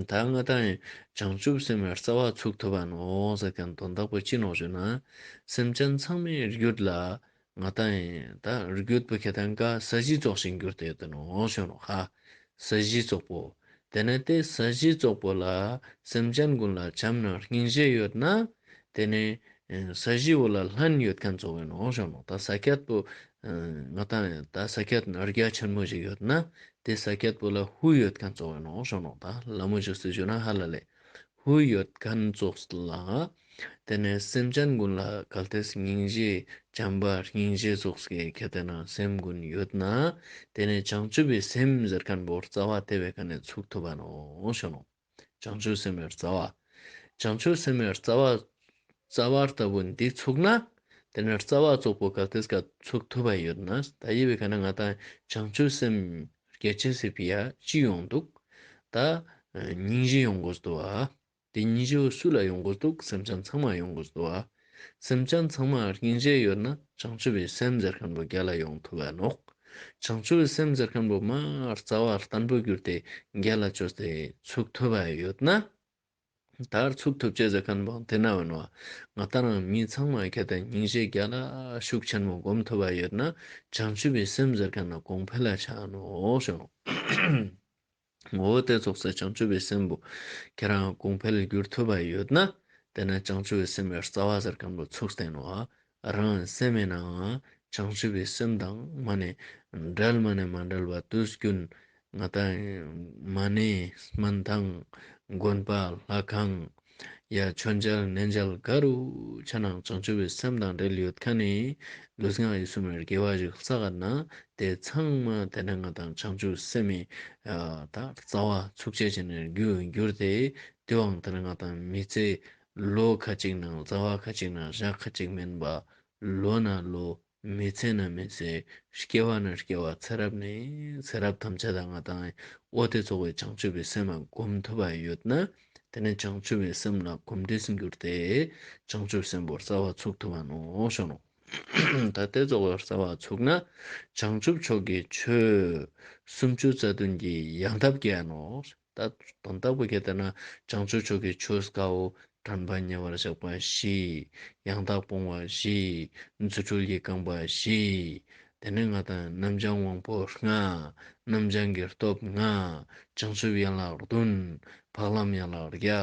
ད་སྔ་ད་ཡིན་བྱང་ཆུབ་སེམས་དཔའི་རྩ་བ་ཚུགས་ཐུབ་པ་ནོ་ཟེར་མཁན་དོན་དག་པོ་ཅི་ནོ་ཞུ་ན། སེམས་ཅན་ཚང་མའི་རྒྱུད་ལ་ང་ད་ཡིན་ད་རྒྱུད་པོ་ཁྱེད་ད་འགའ་ས་གཞི་རྫོགས་ཤིང་འགྱུར་དེ་དོན་ནོ་ཞུ་ནོ་ཧ། ས་གཞི་རྫོགས་པོ། དེ་ནི་དེ་ས་གཞི་བཙོག་པོ་ལ་སེམས་ཅན་ཀུན་ལ་བྱམས་ན་སྙིང་རྗེ་ཡོད་ན། དེ་ནི་ས་གཞི་བོ་ལ་ལྷན་ཡོད་མཁན་གཙོ་བོའི་ནང་བཞག་ནོ་ད་ས་སྐྱེད་པོ། ང་ད་ད་ས་སྐྱེད་ན་རྒྱ་ཆེན་མོ་ཞིག་ཡོད་ན་དེ་ས་སྐྱེད་པོ་ལ་ཧུ་ཡོད་མཁན་གཙོ་བོའི་ནང་བཞག་ནོ་ད་ལ་མོ་ཞིག་སུ་བྱོས་ན་ཧ་ལ་ལས་ཧུའུ་ཡོད་མཁན་ཚོགས་ལ་དེ་ནས་སེམས་ཅན་ཀུན་ལ་གལ་ཏེ་སྙིང་རྗེ་བྱམས་པ་སྙིང་རྗེ་ཚོགས་ཀྱི་གལ་ཏེ་ན་སེམས་ཀུན་ཡོད་ན་དེ་ནས་བྱང་ཆུབ་པའི་སེམས་ཟེར་མཁན་པོར་རྩ་བ་དེ་བས་ག་ནས་ཚུགས་ཐུབ་བ་ནོ་ཞེ་ན། བྱང་ཆུབ་སེམས་པའི་རྩ་བ། བྱང་ཆུབ་སེམས་པའི་རྩ་བ། རྩ་བ་ལྟ་བུ་འདི་ཚུགས་ན་དེ་ནས་རྩ་བ་ཚོགས་པོ་གལ་ཏེ་ག་ཚུགས་ཐུབ་པ་ཡོད་ན་ད་ཡི་བས་ག་ན་ང་དང་བྱང་ཆུབ་སེམས་སྐད་ཆེན་ཟེར་བི་ཡ་ཅི་ཡོང་འདུག་ད། སྙིང་རྗེ་ཡོང་དགོས་སྡོ་ཨ། དེ་སྙིང་རྗེ་བོ་སུ་ལ་ཡོང་དགོས་འདུག་སེམས་ཅན་ཚང་མར་ཡོང་དགོས་སྡོ་ཨ། སེམས་ཅན་ཚང་མར་སྙིང་རྗེ་ཡོད་ན་བྱང་ཆུབ་བི་སེམས་ཟེར་མཁན་པོ་རྒྱ་ལ་ཡོང་ཐུབ་ཨ་ནོག། བྱང་ཆུབ་བི་སེམས་ཟེར་མཁན་པོ་མ་རྩ་བ་ལྟན་པོ་གྱུར་ཏེ་རྒྱ་ལ་བྱོས་ཏེ་ཚུགས་ཐུབ་ཨ་ཡོད་ན། དར་ཚུགས་ཐུབ་ཆེད་ཟེར་མཁན་བོང་དེ་ན་འོན་བ་ང་ལྟ་རང་མི་ཚང་མ་གལ་ཏེ་ཉིན་བཞི་བརྒྱ་ལ་ཤུགས་ཆེན་མོ་སྒོམ་ཐུབ་པ་ཡོད་ན་བྱང་ཆུབ་པའི་སེམས་ཟེར་མཁན་ན་གོང་འཕེལ་ལ་ཆགས་ནོ་ཞོག་ངོ་བོ་དེ་ཚོགས་སའི་བྱང་ཆུབ་པའི་སེམས་བུ་ཁྱེད་རང་གོང་འཕེལ་འགྱུར་ཐུབ་པ་ཡོད་ན་དེ་ན་བྱང་ཆུབ་པའི་སེམས་ཡར་རྩ་བ་ཟེར་མཁན་བོ་ཚུགས་བསྟན་བ་རང་ལ་སེམས་མེད་ནའང་བྱང་ཆུབ་པའི་སེམས་དང་མ་ནས་འབྲལ་མ་ནས་མ་འབྲལ་བ་དུས་ཀུན་ང་དང་མ་ནས་སྨིན་དང་དགོན་པ་ལྷ་ཁང་ཡ་ཆོས་འཇལ་གནས་འཇལ་ག་རུ་ཆ་ན་བྱང་ཆུབ་པའི་སེམས་དང་འབྲལ་ཡོད་ཁ་ནས་ལུས་ངག་ཡིད་གསུམ་རྒྱལ་བ་ཞིག་བཙའ་ག་ན་དེ་ཚང་མ་དེ་འདྲ་ང་དང་བྱང་ཆུབ་སེམས་མེད་ད་བཙའ་བ་ཚུགས་ཆད་བྱས་ནས་རྒྱུ་འགྱུར་ཏེ་དུས་དབང་དེར་ང་དང་མི་ཚེ་ལོ་ཁ་ཅིག་ནང་རྩ་བ་ཁ་ཅིག་ནང་བཞག་ཁ་ཅིག་མིན་པ། ལོ་ན་ལོ། མི་ཚེ་ན་མི་ཚེ། སྐྱེ་བ་ན་སྐྱེ་བ་ཚེ་རབས་ནས་ཚེ་རབས་ཐམས་ཅད་ད་ང་དང་ཨོ་སྟེ་ཚོགས་པའི་བྱང་ཆུབ་པའི་སེམས་ལ་གོམས་ཐུབ་པ་ཡོད་ན་དེ་ནི་བྱང་ཆུབ་པའི་སེམས་ལ་གོམས་འདྲིས་འགྱུར་ཏེ་བྱང་ཆུབ་སེམས་དཔར་རྩ་བ་ཚུགས་ཐུབ་པ་ནོ་ཞོ་ནོ། ད་ལྟའི་རྩ་བར་རྩ་བ་ཚུགས་ན་བྱང་ཆུབ་མཆོག་གི་ཆོས་སུམ་ཅུ་རྩ་བདུན་གྱི་ཡང་ཐབས་བརྒྱད་ནོ། བདག་དང་བདག་པོ་ཁྱེད་ལྟ་ན། བྱང་ཆུབ་མཆོག་གི་ཆོས་དཀའོ། དྲན་པ་ཉེ་བར་བཞག་པ་བཞི། ཡང་དག་སྤོང་བ་བཞི། རྫུ་འཕྲུལ་གྱིས་བསྐངས་པ་བཞི། དེ་ནས་ང་དང་རྣམ་བྱང་དབང་པོ་ལྔ། རྣམ་བྱང་གི་སྟོབས་ལྔ། བྱང་ཆུབ་ཡན་ལག་བདུན། འཕགས་ལམ་ཡན་ལག་བརྒྱ།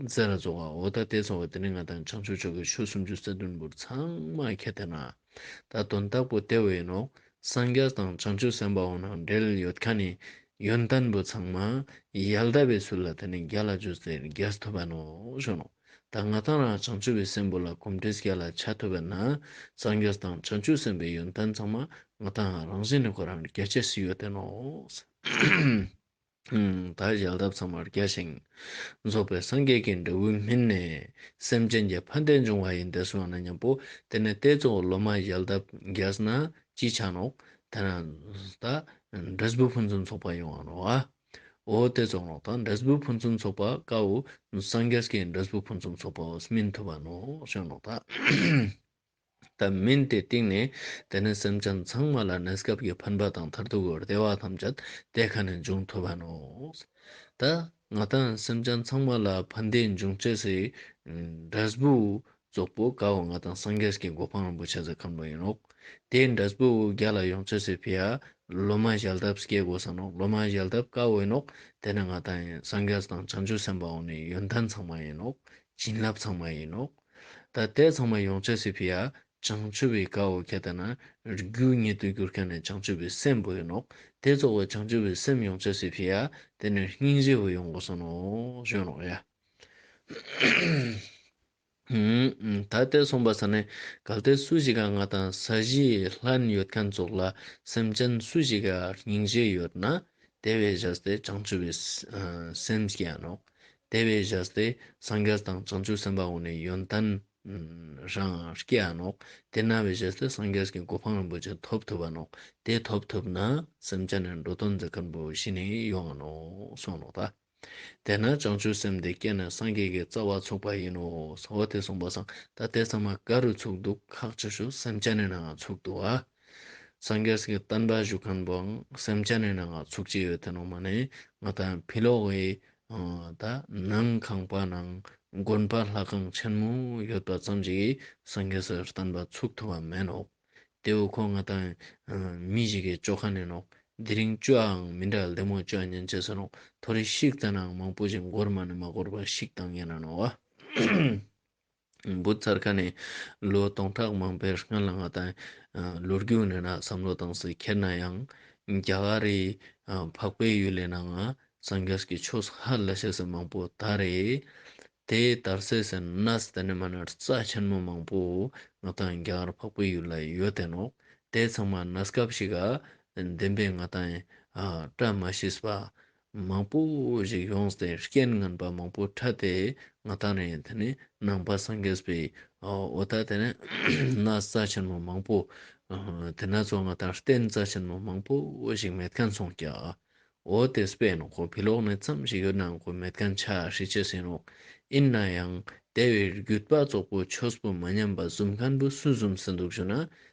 རྫས་ལ་རྫོགས་བ་འོ་ད་ལྟའི་འཚོ་བ་འདི་ནི་ང་དང་བྱང་ཆུབ་མཆོག་གི་ཆོས་སུམ་ཅུ་རྩ་བདུན་པོར་ཚང་མ་ཁྱེད་ལྟ་ན། ད་དོན་དག་པོ་དེ་བས་ཡིན་ནོ། སངས་རྒྱས་དང་བྱང་ཆུབ་སེམས་དཔའ་བོ་རྣམས་འབྲེལ་ཡོད་ཁ་ནས་ཡོན་ཏན་པོ་ཚང་མ་ཡལ་འདབ་པའི་ཚུལ་ལ་དེ་ནས་རྒྱ་ལ་འཇུ་ཟེར་རྒྱས་ཐུབ་པ་ནོ་ཞུ་ནོ། ད་ང་དང་རང་བྱང་ཆུབ་པའི་སེམས་པོ་ལ་གོམས་འདྲིས་རྒྱ་ལ་བྱ་ཐུབ་པ་ན། སངས་རྒྱས་དང་བྱང་ཆུབ་སེམས་དཔའི་ཡོན་ཏན་ཚང་མ་ང་དང་རང་བཞིན་ནས་ཁོ་རང་རྒྱ་བྱེད་སྲིད་ཡོད་དེ་ནོ། བདག་ཞལ་ཐབས་ཚང་བར་རྒྱ་ཞིང། རྫོགས་པའི་སངས་རྒྱས་ཀྱི་འབྲས་བུ་སྨིན། སེམས་ཅན་གྱི་ཕ་འདས་འབྱུང་བ་ཡི་འདས་སོང་ན་སྙམ་པོ། དེ་ནས་རྟའི་གཙོ་བོ་ལོ་མ་ཞལ་ཐབས་རྒྱས་ན་ཅི་བྱ་ནོ། དེ་ན་བདག་འབྲས་བུ་ཕུན་སུམ་ཚོགས་པ་ཡོང་བར་འོ། འོ་དེ་ཚོགས་ནོ་དང་འབྲས་བུ་ཕུན་སུམ་ཚོགས་པ་དཀའ་འོ། སངས་རྒྱས་ཀྱི་འབྲས་བུ་ཕུན་སུམ་ཚོགས་པའོ་སྨིན་ཐུབ་པ་ནོ་ཞེས་ནོ་དང། ལྟར་མིན་ཏེ་གཏིང་ནས་བལྟས་ན་སེམས་ཅན་ཚང་མ་ལ་གནས་སྐབས་ཀྱི་འཕེན་པ་དང་མཐར་ཐུག་གི་བདེ་བ་ཐམས་ཅད་དེ་ག་ནས་འབྱུང་ཐུབ་བམ། ད་ང་དང་སེམས་ཅན་ཚང་མ་ལ་ཕན་བདེ་འབྱུང་བྱེད་སའི་འབྲས་བུ་རྫོགས་པོ་དགའ་བ་ང་དང་སངས་རྒྱས་ཀྱི་གོ་འཕང་རིན་པོ་ཆེ་ཟེར་ཁམས་ལོ་ཡིན་ནོ། དེའི་འབྲས་བུ་རྒྱ་ལ་ཡོང་བྱེད་སའི་ཕི་ཨ་ལོ་མ་ཞལ་གདབ་སྐྱེ་དགོས་སམ་ནོ་ལོ་མ་ཞལ་གདབ་དཀའ་འོས་ནོ། དེ་ནི་ང་དང་སངས་རྒྱས་དང་བྱང་ཆུབ་སེམས་དཔའ་འོག་ནས་ཡོན་ཏན་ཚང་མ་ཡིན་ནོ། བྱིན་རླབས་ཚང་མ་ཡིན་ནོ། ད་ལྟའི་ཚང་མ་ཡོངས་ཆགས་སུ་ཕི་ཡ། བྱང་ཆུབ་བའི་དགའ་བོ་ཁྱེད་ལྟ་ན། རྒྱུ་ཉིད་དུ་གྱུར་མཁན་ནི་བྱང་ཆུབ་པའི་སེམས་བུ་ཡིན་ནོ། དེ་རྫོགས་པའི་བྱང་ཆུབ་པའི་སེམས་ཡོངས་ཆགས་སུ་ཕི་ཡ། དེ་ནི་སྙིང་རྗེ་བུ་ཡོངས་གསོན་ནོ། གཞོན་ནུ་ཡ། ད་ལྟའི་གསུངས་པ་ས་ནི་གལ་ཏེ་སུ་ཞིག་ག་ང་དང་ས་གཞི་ལྷན་ཡོད་མཁན་ཚོགས་ལ་སེམས་ཅན་སུ་ཞིག་ག་སྙིང་རྗེ་ཡོད་ན། དེ་བས་བཞག་སྟེ་བྱང་ཆུབ་པའི་སེམས་སྐྱེ་ཡང་ནོ། དེ་བས་བཞག་སྟེ་སངས་རྒྱས་དང་བྱང་ཆུབ་སེམས་དཔའ་འོག་ནས་ཡོན་ཏན་རང་སྐྱེ་བ་ནོ། དེ་ན་བས་བཞག་སྟེ་སངས་རྒྱས་ཀྱི་གོ་འཕང་རིན་པོ་ཆེ་ཐོབ་ཐུབ་པ་ནོ། དེ་ཐོབ་ཐུབ་ན་སེམས་ཅན་ནི་འགྲོ་དོན་འཛིན་མཁན་པོ་བཞི་ནི་ཡོང་བ་ནོ་གསུངས་ནོ། ད་དེ་ན་བྱང་ཆུབ་སེམས་དེ་སྐྱེས་ནས་སངས་རྒྱས་ཀྱི་རྩ་བ་ཚུགས་པ་ཡིན་ནོ། ཟོ་བོ་དེས་གསུངས་པ་སང་ད་དེ་ཚང་མ་ག་རུ་ཚུགས་འདུག་ཁག་ཅིག་ཞུ་སེམས་ཅན་ནི་ནང་ང་ཚུགས་འདུག་ཨ། སངས་རྒྱས་ཀྱི་བསྟན་པ་བཞུགས་མཁན་པོའང་སེམས་ཅན་ནས་ནང་ང་ཚུགས་ཀྱི་ཡོད་དེ་ནང་མ་ནས་ང་ད་ཕི་ལོག་བས་ད་ནང་ཁང་པ་ནང་དགོན་པ་ལྷ་ཁང་ཆེན་མོ་ཡོད་པ་ཙམ་གྱིས་སངས་རྒྱས་ཀྱི་བསྟན་པ་ཚུགས་ཐུབ་པ་མེད་ནོག་དེའུ་ཁོ་ང་ད་མི་ཞིག་གི་ཅོ་ཁ་ནས་ནོག་དེ་རིང་བཅོའང་མི་འདྲ་ལེ་མོ་བཅོ་ཉན་བྱེད་ཟེར་ནོག་ཐོ་རེ་ཤིག་དེ་ནང་མང་པོ་ཞིག་འགོར་མ་ནས་མ་འགོར་པ་ཞིག་དང་ཡིན་ན་ནོག། བུ་ཚར་ཁ་ནས་ལོ་སྟོང་ཕྲག་མང་པོའི་སྔོན་ལ་ང་དང་ལོ་རྒྱུས་ནས་ན་བསམ་བློ་གཏོང་སའི་ཁྱེར་ན་ཡང་རྒྱ་གར་རི་འཕགས་པའི་ཡུལ་ལས་ནང་ང་སངས་རྒྱས་ཀྱི་ཆོས་ཧ་ལས་བཤད་སའི་མང་པོ་ད་རེད། དེ་དར་སའི་སེ་ནས་དེ་ནས་མ་ནར་རྩ་ཆེན་མོ་མང་པོ་ང་དང་རྒྱ་གར་འཕགས་པའི་ཡུལ་ལ་ཡོད་དེ་ནོག་དེ་ཚང་མ་ནས་སྐབས་ཤིག་ཨ་བདེན་པས་ང་དང་སྐྲ་མ་ཤིས་པ་མང་པོ་ཞིག་ཡོང་སྟེ་རྐྱེན་ངན་པ་མང་པོ་འཕྲད་དེ་ང་ད་ནི་དེ་ནི་ནང་པ་སངས་རྒྱས་པའི་འོ་ད་དེ་ནི་ན་རྩ་ཆེན་མོ་མང་པོ་དེ་ན་ཚོ་ང་ད་རྟེན་རྩ་ཆེན་མོ་མང་པོ་ཞིག་མེད་མཁན་སོང་ཀྱ་འོ་དེ་སྤེན་ནོ་ཁོ་བི་ལོག་ནས་མཚམས་ཞིག་ཡོད་ནའང་ཁོ་མེད་མཁན་ཆ་ཧྲི་ཅི་ཟིན་རུང་ཡིན་ན་ཡང་དེ་བས་རྒྱུད་པ་ཙོག་པོ་ཆོས་པོ་མ་ཉམས་པ་གཟུམ་མཁན་པོ་སུ་གཟུམ་ཟིན་འདུག་བྱུང་ན་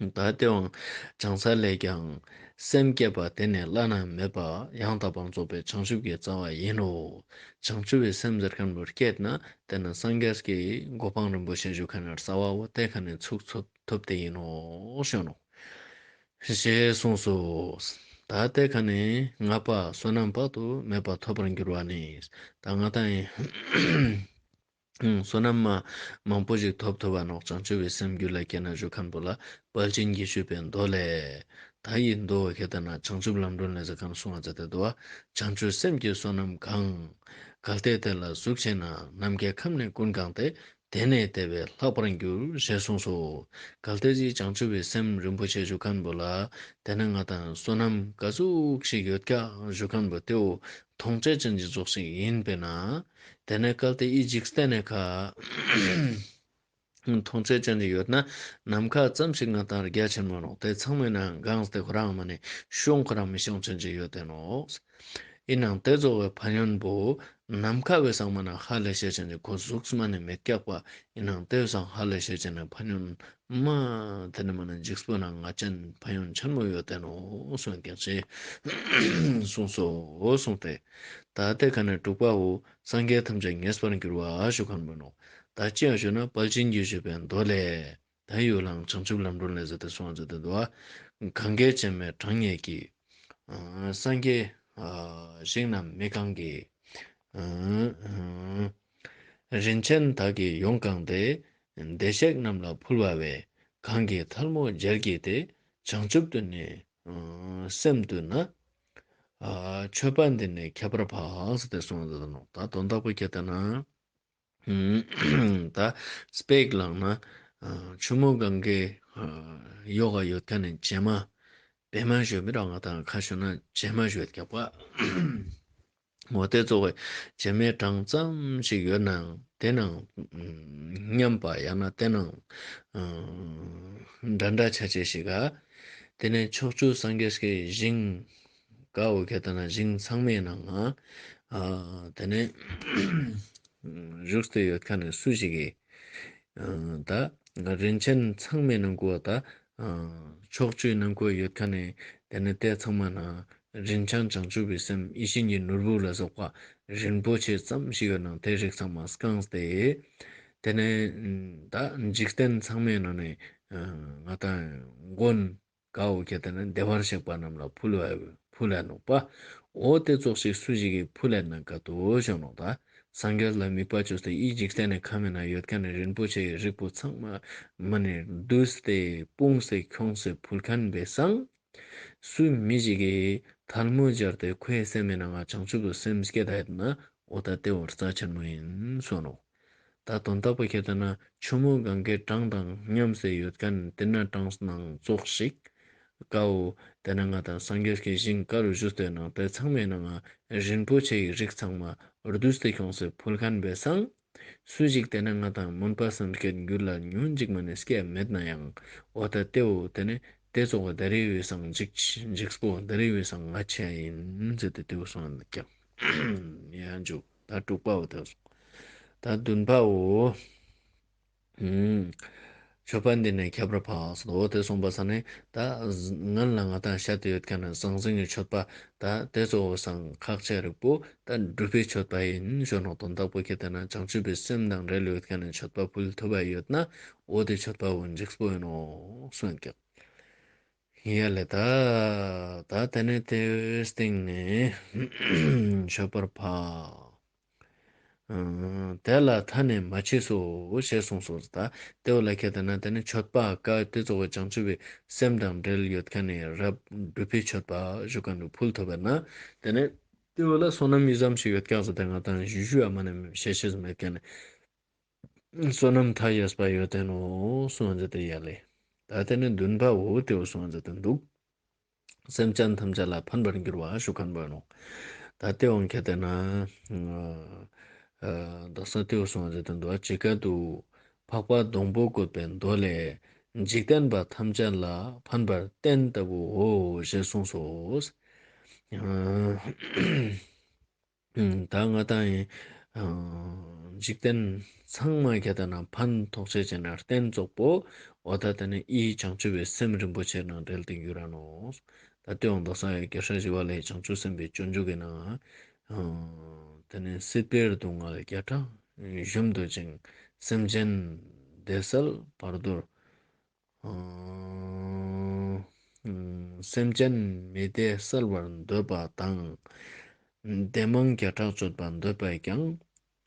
ད་ལྟའི་དབང་བྱང་ས་ལས་ཀྱང། སེམས་བསྐྱེད་པ་དེ་ནི་བླ་ན་མེད་པ། ཡང་དག་པར་རྫོགས་པའི་བྱང་ཆུབ་ཀྱི་རྩ་བ་ཡིན་ནོ། བྱང་ཆུབ་པའི་སེམས་འདིར་ཁམས་རིར་སྐྱེས་ན། དེ་ནི་སངས་རྒྱས་ཀྱི་གོ་འཕང་རིན་པོ་ཆེ་བཞུགས་མཁན་ར་ས་བ་བོ་དེ་ག་ནས་ཚུགས་ཐུབ་དེ་ཡིན་ནོ། གཞོན་ནུ། ཞེས་གསུངས་སོ། ད་ལྟའི་ག་ནས་ང་པ་བསོད་ནམས་དཔག་ཏུ་མེད་པ་ཐོབ་པར་འགྱུར་བ་ནི། ད་ང་དང། བསོད་ནམས་མང་པོ་ཞིག་ཐོབ་ཐུབ་པ་ནོག་ཅང་ཆུ་བོའི་སེམས་རྒྱུད་ལ་སྐྱེས་ན་བཞུགས་ཁམས་བུ་ལ་དཔལ་ཆེན་རྒྱས་ཞུས་པའི་མདོ་ལས། ད་ཡིས་མདོ་བོ་ཁྱེད་ལྟར་ན་བྱང་ཆུབ་ལམ་སྒྲོན་ལས་ས་གང་བསྲུང་བ་ཛེ་ཏའི་དུ་བ། བྱང་ཆུབ་སེམས་ཀྱི་བསོད་ནམས་གང། གལ་ཏེ་དེ་ལ་གཟུགས་ཆེ་ན་ནམ་མཁའི་ཁམས་ནས་ཀུན་གང་སྟེ་དེ་ནས་དེ་བས་ལྷག་པར་འགྱུར་ཞེས་གསུངས་སོ། གལ་ཏེ་ཅིའི་བྱང་ཆུབ་བའི་སེམས་རིན་པོ་ཆེ་བཞུགས་ཁམས་བུ་ལ་དེ་ན་ང་དང་བསོད་ནམས་ག་ཟུགས་ཤིག་ཡོད་ཀྱང་བཞུགས་ཁམས་བུ་དེའོ་དོང་ཙེ་ཅན་གྱི་རྫོགས་ཤིང་ཡིན་པས་ན། དེ་ནས་བསྐལ་ཏེ་ཨི་འཇིགས་སྟེ་ནས་ཁ། དོང་ཙེ་ཅན་གྱི་ཡོད་ན་ནམ་མཁའ་ཙམ་ཞིག་ང་དང་རྒྱ་ཆེར་མ་རུང་དེ་ཚང་མས་ན་འགངས་སྟེ་ཁོ་རང་མ་ནི་ཤོང་ཁོ་རང་མི་ཤོང་ཅན་གྱི་ཡོད་དེ་ནོ། ཨི་ནང་དེ་རྫོགས་བའི་བ་ཡོན་པོ། ནམ་མཁའ་བས་སངས་མ་ན་ཧ་ལས་ཤེས་ཅན་གྱི་ཁོ་གཟུགས་སྨ་ནི་མི་སྐྱག་པ་ཨི་ནང་དེ་བས་སངས་ཧ་ལས་ཤེས་ཅན་ནི་བ་ཡོན་མ། དེ་ནི་མ་ནི་འཇིགས་སུ་རུང་ང་ཅན་ཕ་ཡང་འཆར་མོ་ཡོད་བསྟན་ནོ་གསུང་སྐད་ཅིག། གསུངས་སོ། གསུངས་ཏེ། ད་ལྟའི་ཁ་ནས་དྲུག་པའོ། སངས་རྒྱས་ཐམས་ཅད་ངེས་པར་འགྱུར་བ་ཞུ་གར་མོ་ནོ། ད་ཅི་ཞུ་ན་དཔལ་ཆེན་རྒྱུད་ཞུ་བའི་མདོ་ལས། ད་ཡུལ་ལྷའམ་བྱང་ཆུབ་ལམ་སྒྲོན་ལས་ཟེར་ཏེ་སོགས་མཛད་དོན་དུ། གངྒཱའི་བྱེ་མའི་གྲངས་སྙེད་ཀྱི། སངས་རྒྱས། ཞིང་རྣམས་མི་གང་གི། རིན་ཆེན་དག་གིས་ཡོངས་བཀང་སྟེ། བདེ་གཤེགས་རྣམས་ལ་ཕུལ་བ་བས། གང་གིས་ཐལ་མོ་སྦྱར་བགྱིས་ཏེ། བྱང་ཆུབ་ཏུ་ནི་སེམས་བཏུད་ན། མཆོད་པ་འདི་ནི་ཁྱད་པར་འཕགས། ཟེར་ཏེ་གསུངས་སོ། ད་དོན་རྟག་པར་སྐྱེ་ལྟ་ན། ད་སྤེགས་ལག་ན་ཆུ་མོ་གང་གིས། གཡོ་ག་ཡོད་ཀྱང་ནི་བྱེ་མ་བེ་མ་ཞོ། མི་རང་ག་དང་ཁ་ཞོ་ན་བྱེ་མ་ཞོའི་རྒྱབ་ཀ། ངོ་བསྟོད་གཙོ་བོ་བྱེ་མའི་གྲངས་ཙམ་ཞིག་ཡོད་ནའང་དེ་རྣམས་མཉམ་པ་ཡང་ན་དེ་རྣམས་འདྲ་འདྲ་ཆ་ཆས་ཤིག་ག། དེ་ནས་ཕྱོགས་བཅུ་སངས་རྒྱས་ཀྱི་ཞིང། ག་འོད་གད་དང་ན་ཞིང་ཚང་མའི་ནང་ང། དེ་ནས་བཞུགས་སྟེ་ཡོད་ཁ་ནས་སུ་ཞིག་གིས། ད་རིན་ཆེན་ཚང་མའི་ནང་ཁུལ་བ་ད། ཕྱོགས་བཅུའི་ནང་ཁུལ་ཡོད་ཁ་ནས་དེ་ནས་ལྟས་ཚང་མ་ན། རིན་ཆང་བྱང་ཆུབ་པའི་སེམས་ཡེ་ཤེས་ཉིད་ནོར་བུ་ལ་སོགས་པ་རིན་པོ་ཆེ་ཙམ་ཞིག་གི་ནང་དེ་རིགས་ཚང་མ་བསྐངས་ཏེ། དེ་ནས་ད་འཇིག་རྟེན་ཚང་མའི་ནང་ནས་ང་དང་མགོན་དགའ་བོ་གལ་ཏེ་ན་བདེ་བར་གཤེགས་པ་རྣམས་ལ་ཕུལ་བས་ཕུལ་ལས་ནོག་པ་འོ་དེ་ཙོག་ཞིག་སུ་ཞིག་གིས་ཕུལ་ལས་ན་དགའ་དུ་བྱོན་ནོག་ད་སངས་རྒྱས་ལ་དམིགས་པ་བཅོལ་ཏེ་ཡིད་འཇིག་རྟེན་ནས་ཁ་མེད་ན་ཡོད་ཁ་ནས་རིན་པོ་ཆེ་ཡི་རིགས་པོ་ཚང་མ་མི་ནས་བསྡུས་ཏེ་སྤུངས་སེ་འཁྱོངས་སེ་ཕུལ་ཁན་པས་སངས། སུས་མི་ཞིག་གིས་ཐལ་མོ་སྦྱར་ཏེ་ཁོའི་སེམས་མེད་ནའང་བྱང་ཆུབ་ཏུ་སེམས་བསྐྱེད་ད་ཡོད་ན་འུ་ད་ལྟའི་བར་རྩ་ཆེན་པོ་ཡིན་གསུངས་རོགས། ད་དོན་དག་པོ་ཁྱེད་ལྟ་ན་ཆུ་མོ་གང་གའི་གྲངས་དང་མཉམ་བསྲེས་ཡོད་ཀ་ནི་དེ་ན་གྲངས་སྣང་རྫོགས་ཤིག། དགའ་བོ། དེ་ན་ང་དང་སངས་རྒྱས་ཀྱི་ཞིང་དཀར་རུ་བཞུ་སྟོད་ནང་དེ་ཚང་མའི་ནང་ཨ་རིན་པོ་ཆེ་ཡི་རིགས་ཚང་མ་རྡུལ་སྟེ་ཁྱོང་སེ་ཕུལ་ཁན་བས་སངས་སུ་ཞིག་དེ་ནི་ང་དང་མུན་པ་སངས་རྒྱས་འགྱུར་ལ་ཉོན་ཅིག་མ་ནི་སྐད་མེད་ན་ཡང་འོ་ད་ལྟེའོ་དེ་ནི་དེ་གཙོ་བོ་འདི་རེའི་འོས་སངས་འཇིགས་པོ་འདི་རེའི་འོས་སངས་ང་ཆེན་ཡིན་ཟེར་ཏེ་དེའུ་སོང་ཡང་འཇུག་ད་དྲུག་པའོ་དེའུ་སོང་ད་བདུན་པའོ། ཞོགས་པ་འདི་ནས་ཁྱད་པར་འཕགས་སོ་དང་འོ་དེ་གསུངས་པ་ས་ནི་ད་ང་ལ་ང་དང་ཤ་དེ་ཡོད་མཁན་ནི་ཟང་ཟིང་གི་མཆོད་པ་ད་དེ་གཙོ་བོ་ཟང་ཁག་ཆེ་རིགས་པོ་ད་སྒྲུབ་པའི་མཆོད་པ་ཡིན་ཞོ་ནང་དུ་བདག་པོ་ཁྱེད་དེ་ན་བྱང་ཆུབ་པའི་སེམས་དང་འབྲེལ་ཡོད་མཁན་ནི་མཆོད་པ་ཕུལ་ཐུབ་པ་ཡོད་ན་འོ་དེ་མཆོད་པ་འོ་འཇིགས་པོ་ཡིན་ནོ་གསུངས་ཀྱི། ཡ་ལེ་ད་ད་དེ་ནས་དེའི་སྟེང་ནས་ཞོགས་པར་འཕགས། དེ་ལ་ད་ནི་མ་མཆིས་སོ་ཞེས་གསུངས་སོ། ལྟེ་བ་ལ་ཁད་དེ་ན་དེ་ནི་མཆོད་པ་ཀ་ཏི་གཙོ་བོ་བྱང་ཆུབ་པའི་སེམས་དང་འབྲེལ་ཡོད་མཁན་ནི་རབ་བསྒྲུབས་པའི་མཆོད་པ་བཞུགས་ཀ་ནི་ཕུལ་ཐོབ་པས་ན་དེ་ནི། ལྟེ་བ་ལ་བསོད་ནམས་གཉིས་སམ་ཞིག་ཡོད་སྐྱབས་སུ་དེ་སྔ་དང་བཞི་བཞི་བ་མ་ནི་ཞལ་ཤེས་སུ་མེད་མཁན་ནི། བསོད་ནམས་མཐའ་ཡས་པ་ཡོད་དོན་ནོ་གསུངས་བ་འཛིན་ཏེ་ཡལ་ལེ། ད་དེ་ནི་འདུན་པའོ་ལྟེ་བ་གསུངས་བ་འཛིན་ཏེ་འདུག། སེམས་ཅན་ཐམས་ཅད་ལ་ཕན་པར་འགྱུར་བ་ཞུ་ག་འབོད་ནོ། ད་སྟེས་དབང་གི་དེ་ན། བདག་ས་ཏེའུ་སོང་ཟེར་དུ་འདུ་བ་ཇི་སྐད་དུ། འཕགས་པ་སྡོང་པོ་བཀོད་པའི་མདོ་ལས། འཇིག་རྟེན་པ་ཐམས་ཅད་ལ་ཕན་པར་བསྟན་ལྟ་བུའོ་ཞེས་གསུངས་སོ། ད་སྔ་ད་ཡིན། འཇིག་རྟེན་ཚང་མ་ག་ད་ན་ཕན་ཐོགས་ཆེ་བྱེད་ན་རྟེན་རྫོགས་པོ་འོ་ད་ད་ནི་ཨི་ཡི་བྱང་ཆུབ་པའི་སེམས་རིན་པོ་ཆེ་ནང་བསྒྲལ་ཏེ་འགྱུར་ར་ནོ། ད་སྟེ་འོང་དོགས་ས་ཡོད་ཀྱི་ཧྲ་ཞི་བ་ལའི་བྱང་ཆུབ་སེམས་དཔའི་སྤྱོད་འཇུག་གི་ནང། ད་ནི་སྲིད་པའི་སྡུག་བསྔལ་བརྒྱ་ཕྲག་བཞུ་འདོད་ཅིང་སེམས་ཅན་བདེ་གསལ་བར་དོར། སེམས་ཅན་མི་བདེ་བསལ་བར་འདོད་པ་དང། བདེ་དམངས་བརྒྱ་ཕྲག་སྤྱོད་པར་འདོད་པས་ཀྱང།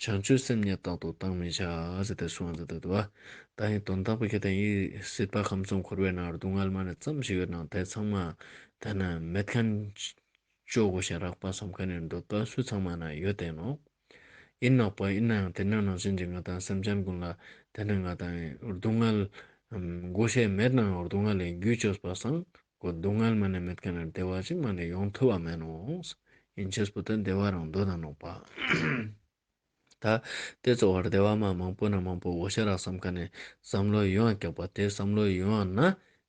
བྱང་ཆུབ་སེམས་ཉིད་རྟག་ཏུ་བཏང་མི་བྱ། ཞེས་དེ་གསུངས་ཟིན་ཏོ། བདག་ཉིད་དོན་དག་པོ་ཁྱེད་དང་ཡིད་སྲིད་པ་ཁམས་གསུམ་འཁོར་བའི་ནང་སྡུག་བསྔལ་མ་ནི་ཙམ་ཞིག་ཡོད་ན་དེ་ཚང་མ་དེ་ན་མེད་མཁན། སྤྱོད་སྒོ་ཞིང་རགས་པ་བསམ་མཁན་ནི་འདོད་པ་སུ་ཚང་མ་ན་ཡོད་དེ་ནོ། ཡིན་ནོག་པོ་ཡིན་ནའང་དེ་ནང་ནང་བཞིན་གྱི་ང་དང་སེམས་ཅན་ཀུན་ལ་དེ་ནི་ང་དང་སྡུག་བསྔལ། མགོ་བཤད་མེད་ནའང་སྡུག་བསྔལ་ལས་རྒྱུད་བཅོས་པར་སངས། སྡུག་བསྔལ་མ་ནས་མེད་ཀ་ནས་བདེ་བ་ཅིག་མ་ནས་ཡོང་ཐུབ་བ་མེད་ནོ། ཡིན་ཆོས་པོ་དེ་བདེ་བ་རང་འདོད་དང་ནོག་པ། ད་དེ་གཙོ་བར་བདེ་བ་མ་མང་པོ་ན་མང་པོ་བོ་ཤེས་རག་བསམ་ཁ་ནས་བསམ་བློའི་ཡུལ་འང་ཀྱག་པ་དེ་བསམ་བློའི་ཡུལ་འང་ན་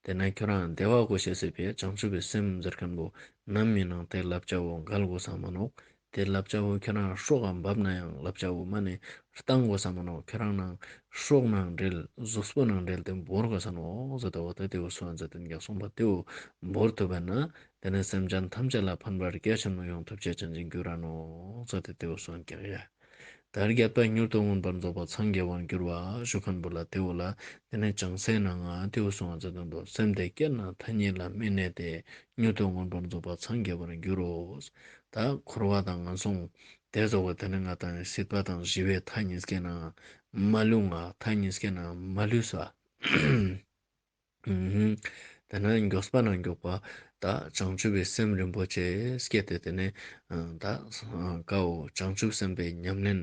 དེ་ན་ཁྱོད་རང་བདེ་བ་གོ་ཤེས་སྲིད་པས་བྱང་ཆུབ་པའི་སེམས་འཛེར་མཁན་པོ་ནམ་མིན་ནང་དེ་ལབ་བྱ་བོ་འགལ་དགོས་ས་མ་ནོག་དེར་ལབ་ཅག་བོ་ཁྱོད་རང་ཧྲོག་གམ་འབབ་ན་ཡང་ལབ་ཅག་བོ་མ་ནི་རྟ་མགོ་ས་མ་ནོ་ཁྱོད་རང་ནང་ཧྲོག་ནང་འདྲེལ་གཟུགས་སྤུ་ནང་འདྲེལ་ཏེ་འབོར་དགོས་ས་ནོ་འོག་ཟོ་དེ་འོག་ཏུ་དེའུ་སོ་འཛད་དེ་འགྱག་སོང་བ་དེའུ་འབོར་ཐུབ་པས་ན་དེ་ནི་སེམས་ཅན་ཐམས་ཅད་ལ་ཕན་པར་སྐལ་ཆེན་མོ་ཡོངས་ཐུབ་བྱེད་ཅིང་འཇིག་འགྱུར་ར་ནོ་འོག་ཟོ་དེ་དེའུ་སོ་འགྱག་ཡ། དར་བརྒྱབ་སྟ་མྱུར་དུ་མངོན་པར་རྫོགས་པར་འཚང་རྒྱ་བར་འགྱུར་བ་ཞུ་ཁན་པོ་ལ་དེའུ་ལ་དེ་ནི་བྱང་སའི་ནང་ང་དེའུ་སོ་འཛད་དོན་དུ་སེམས་དེ་སྐྱེས་ན་མཐའ་གཉིས་ལ་མི་གནས་ཏེ་མྱུར་དུ་མངོན་པར་རྫོགས་པར་འཚང་རྒྱ་བར་འགྱུར་རོ། ད་འཁོར་བ་དང་ངན་སོང་དེ་རྫོགས་པ་དེ་ནི་ང་དང་སྲིད་པ་དང་ཞི་བའི་མཐའ་གཉིས་སྐད་ནའང་མ་ལུས་ང་མཐའ་གཉིས་སྐད་ནའང་མ་ལུས་སོ། དེ་ནས་མགྱོགས་པ་ན་མགྱོགས་པ་དག་བྱང་ཆུབ་པའི་སེམས་རིན་པོ་ཆེ་སྐྱེད་དེ་དེ་ནས་ད་གའོ་བྱང་ཆུབ་སེམས་དཔའི་ཉམས་ལེན།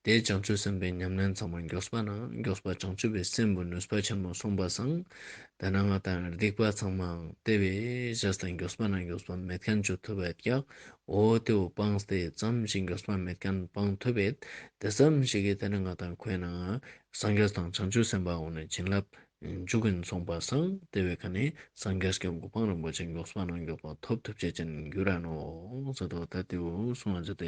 དེས་བྱང་ཆུབ་སེམས་དཔའི་ཉམས་ལེན་ཚང་མ་མགྱོགས་པ་ན་མགྱོགས་པ་བྱང་ཆུབ་པའི་སེམས་བུ་ནུས་པ་ཆེན་པོ་གསུངས་པ་སངས། དེ་ན་ང་དང་སྡིག་པ་ཚང་མའང་དེ་བས་གཞི་སྟེ་མགྱོགས་པ་ན་མགྱོགས་པ་མེད་མཁན་བྱུ་ཐུབ་བད་ཀྱག་འོ་དེའུ་སྤངས་ཏེ་ཙམ་ཞིག་མགྱོགས་པ་མེད་མཁན་སྤངས་ཐུབ་བད་དེ་ཙམ་ཞིག་གིས་དེ་ནི་ང་དང་ཁོའི་ནང་སངས་རྒྱས་དང་བྱང་ཆུབ་སེམས་དཔའ་འོག་ནས་བྱིན་རླབས་འཇུག་གིན་སོང་པ་སངས་དེ་བས་ཁ་ནས་སངས་རྒྱས་ཀྱི་མགོ་འཕང་རིན་པོ་ཆེ་མགྱོགས་པ་ན་མགྱོགས་པ་ཐོབ་ཐུབ་བྱེད་ཀྱིན་རྒྱུ་ར་ནོ་ཟེར་དོ་ད་དེའུ་སྲུང་བ་བྱས་ཏེ